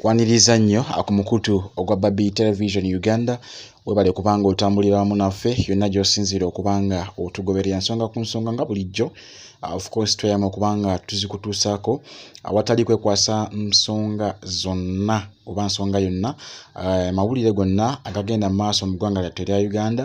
kwaniriza nnyo ku mukutu ogwa babi television uganda webale kubanga otambulira wamu naffe yonna gyosinziira okubanga otugoberera nsonga ku nsonga nga bulijjo uh, ofcourse tweyama okubanga tuzikutuusaako awatali kwekwasa nsonga zonna oba nsonga yonna uh, mawulire gonna agagenda mu maaso mu ggwanga lyattu erya uganda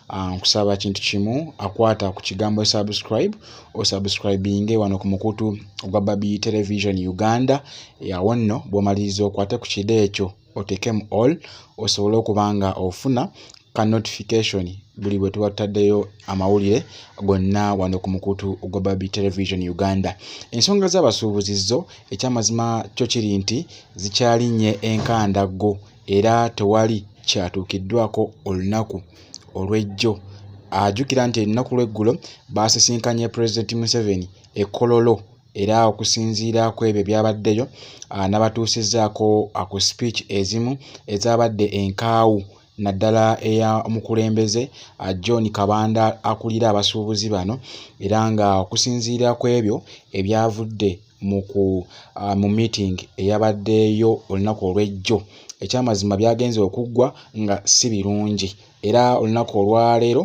Ah, nkusaba kintu kimu akwata ku kigambo subscribe osubscribinge wano ku mukutu ogwa babi television uganda yawo nno bwomaliriza okwate ku kide ekyo otekemu all osobole okuba nga ofuna ka notification buli bwe tuba tutaddeyo amawulire gonna wano ku mukutu ogwa babi television uganda ensonga z'abasuubuzi zo ekyamazima kyo kiri nti zikyalinnye enkandaggo era tewali kyatuukiddwako olunaku olw'ejjo. Ajjukira nti ennaku lw'eggulo baasisinkanye Pulezidenti Museveni e Kololo era okusinziira ku ebyo ebyabaddeyo anabatuusizzaako ku sipiiki ezimu ezaabadde enkaawu naddala eya mukulembeze John Kabanda akulira abasuubuzi bano era nga okusinziira ku ebyo ebyavudde ah, mu meeting eyabaddeeyo olunaku olw'ejjo ekyamazima byagenze okuggwa nga si birungi era olunaku olwaleero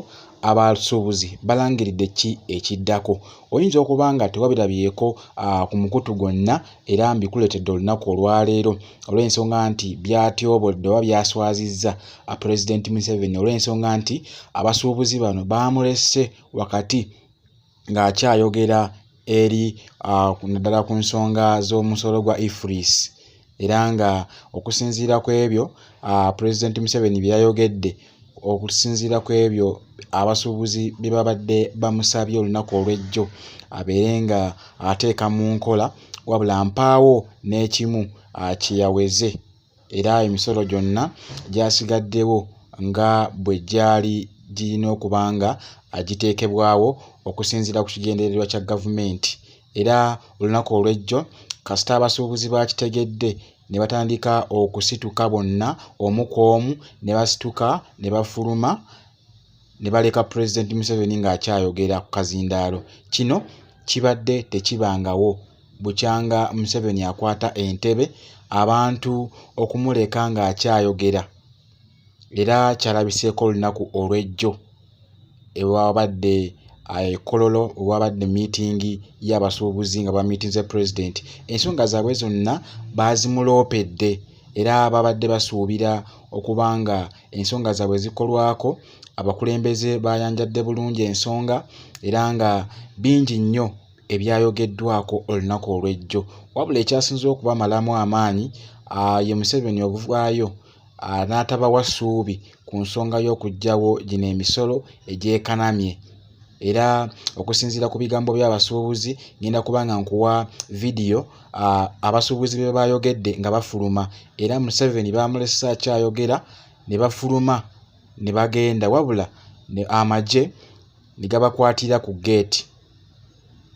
abasuubuzi balangiridde ki ekiddako oyinza okuba nga tewabirabyeko ah, ku mukutu gwonna era mbikuleetedde olunaku olwaleero olw'ensonga nti byatyobodde oba byaswazizza ah, pulezidenti museveni olw'ensonga nti abasuubuzi bano baamulese wakati ng'akyayogera eri naddala ku nsonga z'omusolo gwa ifris era nga okusinziira ku ebyo pulezidenti museveni bye yayogedde okusinziira ku ebyo abasuubuzi bye babadde bamusabye olunaku olw'ejjo abeere nga ateeka mu nkola wabula mpaawo n'ekimu kyeyaweze era emisolo gyonna gyasigaddewo nga bwe gyali girina okuba nga agiteekebwawo okusinziira ku kigendererwa kya gavumenti era olunaku olw'ejjo kasita abasuubuzi baakitegedde ne batandika okusituka bonna omu ku omu ne basituka ne bafuluma ne baleka pulezidenti museveni ng'akyayogera ku kazindaalo kino kibadde tekibangawo bukyanga museveni akwata entebe abantu okumuleka ng'akyayogera era kyalabiseeko olunaku olw'ejjo ewabadde ekololo eh, wabadde miitingi y'abasuubuzi nga bamiitinze pulezidenti ensonga zaabwe zonna baazimuloopedde era babadde basuubira okuba nga ensonga zaabwe zikolwako abakulembeze baayanjadde bulungi ensonga era nga bingi nnyo ebyayogeddwako olunaku olw'ejjo wabula ekyasinze okubamalamu amaanyi ye museveni obuvwayo n'atabawa ssuubi ku nsonga y'okuggyawo gino emisolo egyekanamye era okusinziira ku bigambo by'abasuubuzi ngenda kuba nga nkuwa vidiyo abasuubuzi be bayogedde nga bafuluma era museveni baamulesa akyayogera ne bafuluma ne bagenda wabula amagye ne gabakwatira ku geeti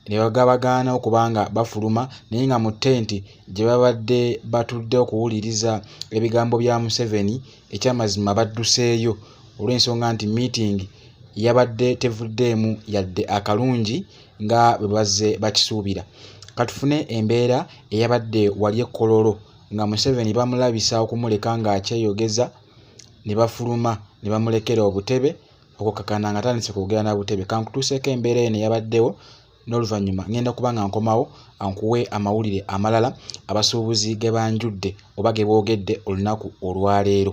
ne bagabagaana okuba nga bafuluma naye nga mu tenti gye babadde batudde okuwuliriza ebigambo bya Museveni ekyamazima badduseeyo olw'ensonga nti miitingi yabadde tevuddeemu yadde akalungi nga bwe bazze bakisuubira katufune embeera eyabadde wali ekkololo nga Museveni bamulabisa okumuleka ng'akyeyogeza ne bafuluma ne bamulekera obutebe okukakana nga tandise kwogera na butebe kankutuuseeko embeera eno eyabaddewo n'oluvannyuma ngenda kuba nga nkomawo ankuwe amawulire amalala abasuubuzi ge banjudde oba ge boogedde olunaku olwaleero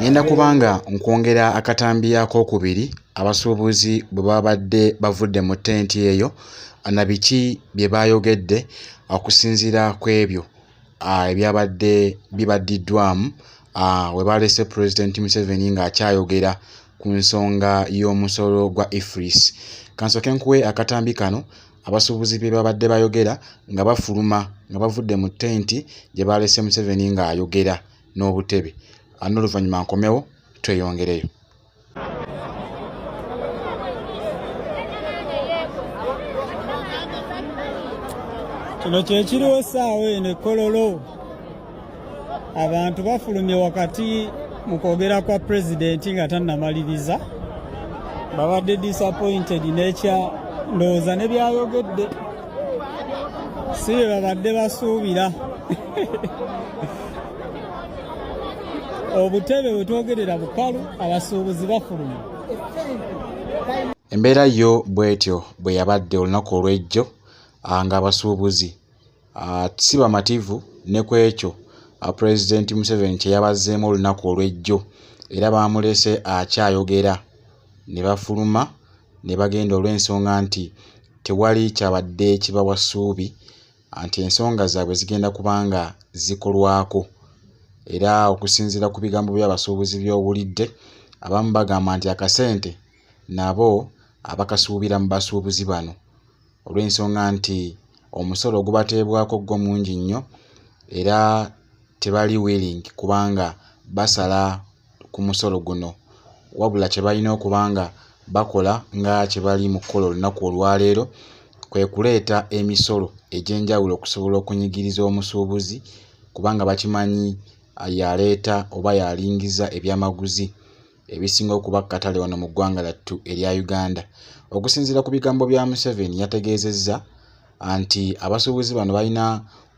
Ngenda kubanga nkwongera akatambi ak'okubiri abasuubuzi bwe babadde bavudde mu ttenti eyo na biki bye baayogedde okusinziira ku ebyo ebyabadde bibaddiddwamu we baalese Pulezidenti Museveni ng'akyayogera ku nsonga y'omusolo gwa IFRIS. Kansooke nkuwe akatambi kano abasuubuzi bye babadde bayogera nga bafuluma nga bavudde mu tenti gye baalese museveni ng'ayogera n'obutebe n'oluvannyuma nkomewo tweyongereyo kino kyekiriwo essaawa eno ekololo abantu bafulumye wakati mu kwogera kwa pulezidenti nga tannamaliriza babadde disappointed nekya ndowooza ne byayogedde si bye babadde basuubira obutebe bwe twogerera bukalu abasuubuzi bafulumye embeera yo bwetyo bwe yabadde olunaku olw'ejjo ng'abasuubuzi Ah, si bamativu ne ku ekyo ah, pulezidenti museveni kye yabazzeemu olunaku olw'ejjo era baamulese akyayogera ne bafuluma ne bagenda olw'ensonga nti tewali kyabadde kibawa ssuubi ah, nti ensonga zaabwe zigenda kuba nga zikolwako era okusinziira ku bigambo by'abasuubuzi by'owulidde abamu bagamba nti akasente nabo abakasuubira mu basuubuzi bano olw'ensonga nti omusolo ogubateebwako gwo mungi nnyo era tebali willing kubanga basala ku musolo guno wabula kye balina okuba nga bakola nga kye bali mu kukola olunaku olwaleero kwe kuleeta emisolo egy'enjawulo okusobola okunyigiriza omusuubuzi kubanga bakimanyi yaleeta oba yalingiza ebyamaguzi. ebisinga okuba katale wano mu ggwanga lattu erya Uganda. Okusinziira ku bigambo bya Museveni yategeezezza nti abasuubuzi bano balina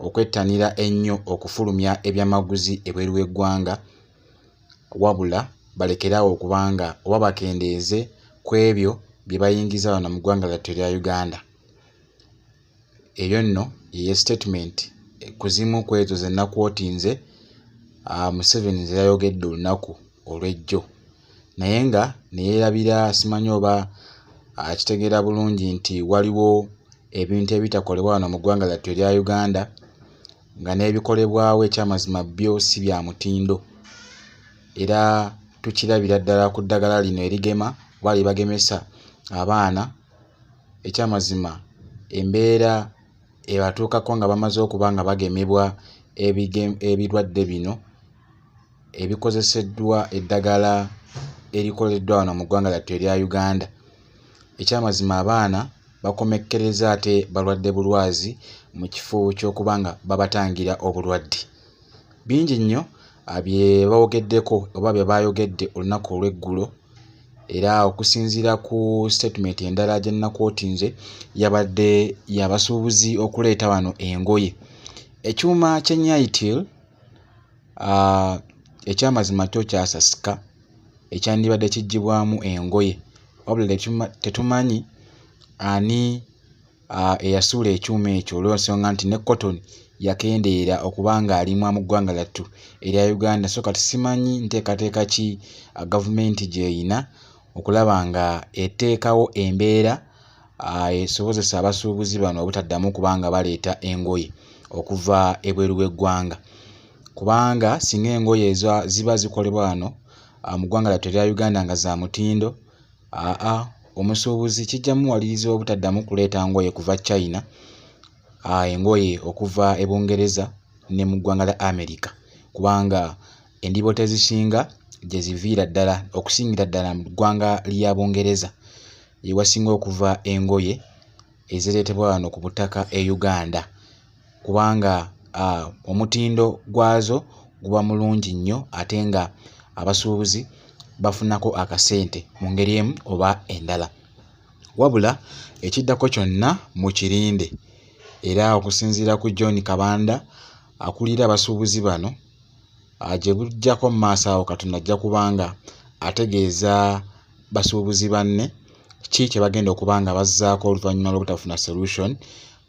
okwettanira ennyo okufulumya ebyamaguzi ebweru w'eggwanga wabula balekeraawo okubanga oba bakendeeze ku ebyo bye bayingiza wano mu ggwanga lattu erya Uganda. eyo nno yeye statement ku zimu ku ezo ze nakwotinze ah, museveni ze yayogedde olunaku olw'ejjo naye nga ne yeerabira simanyi oba akitegeera ah, bulungi nti waliwo ebintu ebitakolebwa wano mu ggwanga lyattu erya uganda nga n'ebikolebwawo ekyamazima byo si bya mutindo era tukirabira ddala ku ddagala lino erigema oba lyebagemesa abaana ekyamazima embeera ebatuukako nga bamaze okuba nga bagemebwa ebirwadde bino ebikozeseddwa eddagala erikoleddwa wano mu ggwanga lyattu erya uganda ekyamazima abaana bakomekkereza ate balwadde bulwazi mu kifo ky'okuba nga babatangira obulwadde bingi nnyo bye bawogeddeko oba bye baayogedde olunaku olw'eggulo era okusinziira ku sitatimenti endala gye nnakooti nze yabadde yabasuubuzi okuleeta wano engoye ekyuma kyenyaitil ah, ekyamazima kyo kyasasika ekyandibadde kiggyibwamu engoye wabula tetumanyi ani uh, eyasuula ekyuma ekyo olwensonga nti ne cotton yakendeera okuba nga alimwa mu ggwanga lyattu erya uganda so kati simanyi nteekateeka ki uh, gavumenti gyeyina okulaba nga eteekawo embeera uh, esobozesa abasuubuzi bano obutaddamu kuba nga baleeta engoye okuva ebweru w'eggwanga kubanga singa engoye ziba zikolebwa wano uh, mu ggwanga lyattu erya uganda nga za mutindo Aa omusuubuzi kijja muwaliriza obutaddamu kuleeta ngoye kuva China, aa engoye okuva e Bungereza ne mu ggwanga lya America kubanga endiboota ezisinga gye ziviira ddala okusingira ddala mu ggwanga lya Bungereza gye wasinga okuva engoye ezireetebwa wano ku butaka e Uganda. kubanga uh, omutindo gwazo guba mulungi nnyo ate nga abasuubuzi bafunako akasente mu ngeri emu oba endala wabula ekiddako kyonna mu kirinde era okusinziira ku john kabanda akulira abasuubuzi bano ah, gye bujjako mu maaso awo katonda ajja kubanga ategeeza basuubuzi banne ki kye bagenda okuba nga bazzaako oluvannyuma lw'obutafuna solution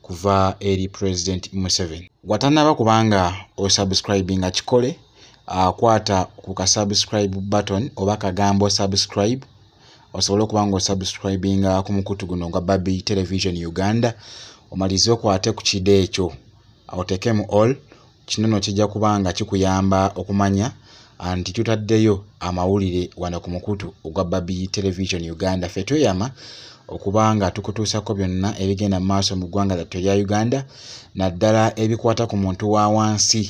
kuva eri president museven watanaba kubanga osubscribinga kikole akwata ah, ku ka subscribe button oba kagambo subscribe osobole okuba nga osubscribinga ku mukutu guno ogwa babi television uganda omalize okwate ku kide ekyo awo tekemu all Kino no kijja kuba nga kikuyamba okumanya anti tutaddeyo amawulire wano ku mukutu ogwa Babi Television Uganda. Ffe tweyama okuba nga tukutuusako byonna ebigenda mu maaso mu ggwanga lyattu erya Uganda naddala ebikwata ku muntu wa wansi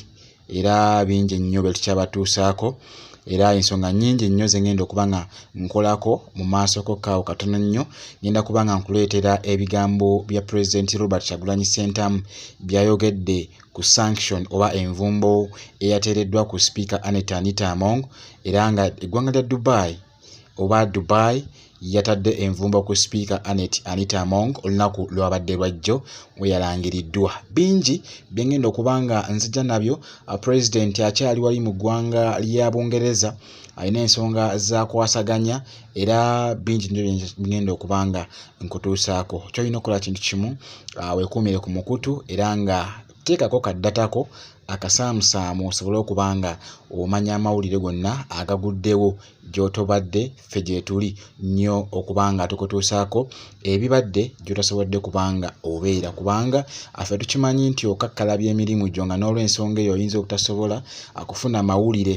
era bingi nnyo bye tukyabatuusaako era ensonga nnyingi nnyo ze ngenda okuba nga nkolako mu maaso kokkaawo katono nnyo ngenda kuba nga nkuleetera ebigambo bya pulezidenti Robert Kyagulanyi Ssentamu by'ayogedde ku sanction oba envumbo eyateereddwa ku sipiika Annet Anita Among era nga eggwanga lya Dubai oba Dubai yatadde envumbo ku sipiika Annet Anita Among olunaku lwabadde lwajjo we yalangiriddwa bingi bye ngenda okuba nga nzija nabyo pulezidenti akyali wali mu ggwanga lya Bungereza alina ensonga zakwasaganya era bingi nyo byengenda okuba nga nkutuusaako kyolina okukola kintu kimu ah, wekuumire ku mukutu era nga teekako kaddatako akasaamusaamu osobole okuba nga omanya amawulire gonna agaguddewo gy'otobadde ffe gyetuli nnyo okuba nga tukutuusaako ebibadde gy'otasobodde kubanga obeera kubanga affe tukimanyi nti okakkalabya emirimu gyo nga n'olwensonga eyo oyinza obutasobola akufuna amawulire